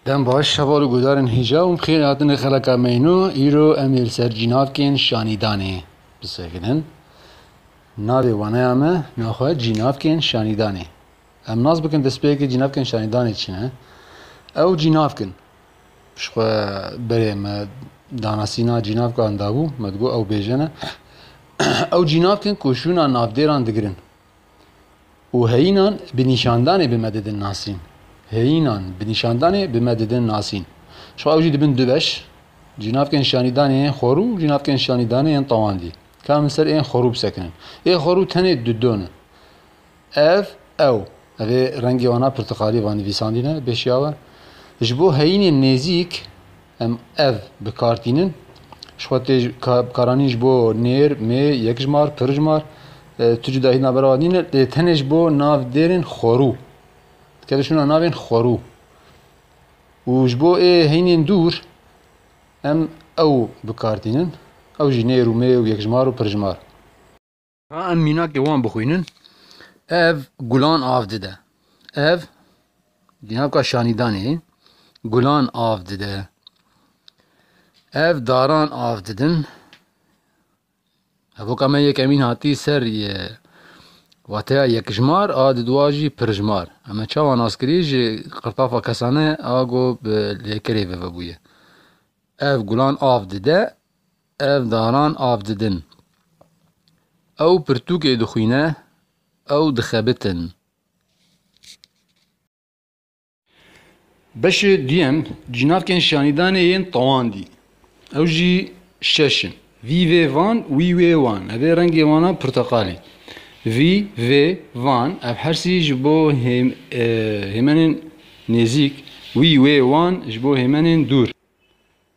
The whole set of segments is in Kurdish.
Dem baş heval û guhdarên hêja û bixêr hatinê xeleka meyno îro em ê li ser cînavkên şanîdanê bisekinin. Navê waneya me naxwe cînavkên şanîdanê. Em nas bikin destpêkê cînavkên şanîdanê çi ne? Ew cînavk in. Piştxwe berê me danasîna cînavkan dabû me digot ew bêje ne. Ew cînavk in ku şûna navdêran digirin. û heyînan bi nîşandanê bi me didin nasîn. Heyînan bi nîşandanê bi me didin nasîn. Şo ew jî dibin du beş, Jinavkên şanîdanê yên xorû û jinavkên şanîdanê yên tewandî. Ka min ser ên xorû bisekinin. Ê xorû tenê du don in. Ev, ew. Ev ê rengê wana pirtiqalî va nivîsandî ne bê şiyawe. Ji bo heyînên nêzîk Em ev bi kar tînin. Ji xwe tê bi kar anîn ji bo nêr, mê, yekjmar, pirjmar. Tu cuda hît navbera wan nîne. Lê tenê ji bo nav dêrên xwerû. Dikeve şûna navên xwerû. Û ji bo ê heynên dûr em ew bi kar tînin. Ew jî nêr û mê û yekjmar û pirjmar. Em mînakê wan bixwînin. Ev gulan av dide. Ev dînavka şanîdanê gulan av dide. Ev daran av didin. Evoka me yekemîn hatî ser ye wateya yekijmar a di dua jî pirijmar. Em çawa nas kirî ji qirtafa kesane a got bi lêkerê ve vebûye. Ev gulan av dide Ev daran av didin. Ew pirtûkê dixwîne, ew dixebitin. Beşê duyem cînakên şanîdanê yên tewandî. Ew jî şeş in. Vî vê van, wî wê wan. Ev ê rengê wan a pirteqalî. Vî vê van, ev hersî ji bo hêmenên nêzîk, wî wê wan ji bo hêmenên dûr.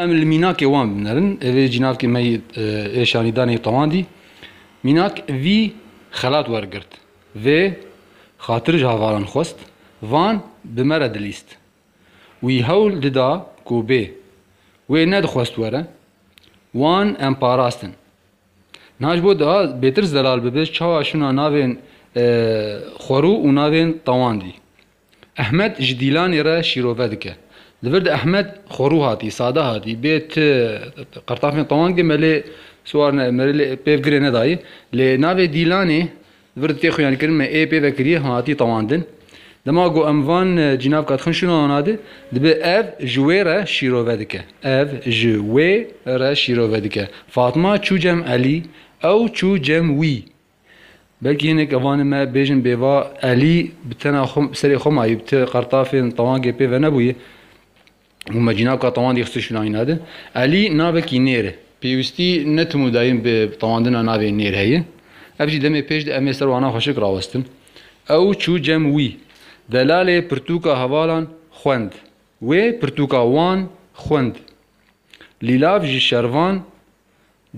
Em li mînakê wan binerin. Evê cînavkê me yê êşanîdanê tewandî mînak vî xelat wergirt. Vê xatir ji havalan xwest, van bi me re dilîst. Wî hewl dida ku bê. Wê nedixwest were. Wan em parastin. Niha ji bo daha bêtirs zelal bibe çawa şûna navên xwerû û navên tewandî. Ehmed ji Dîlanê re şîrove dike. Li vir de Ehmed xwerû hatî, sade hatî, bê ti qirtafên qewang dê me lê siwar ne, me lê pêv girê nedayê. Lê navê Dîlanê li vir de tê xuyankirin, me ê pêve kiriye, hatî tewandin. Dema ku em van cînavka dixin şûna wana de, dibe ev ji wê re şîrove dike. Ev ji wê re şîrove dike. Fatma çû cem Elî, ew çû cem wî. Belkî hinek evanê me bêjin bêva Elî bi tena xwe serê xwe mayî bi ti qertafên tewangê pê venebûyî û me cînaka tewandî xistî şûnayîna di. Elî navekî nêr e. Pêwîstî ne tim û dayîn bi tewandina navê nêr heye. Ev jî demê pêş di em ê ser wana xweşik rawestin. Ew çû cem wî. Delalê pirtûka hevalan xwend. Wê pirtûka wan xwend. Lîlav ji şervan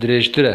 dirêjtir e.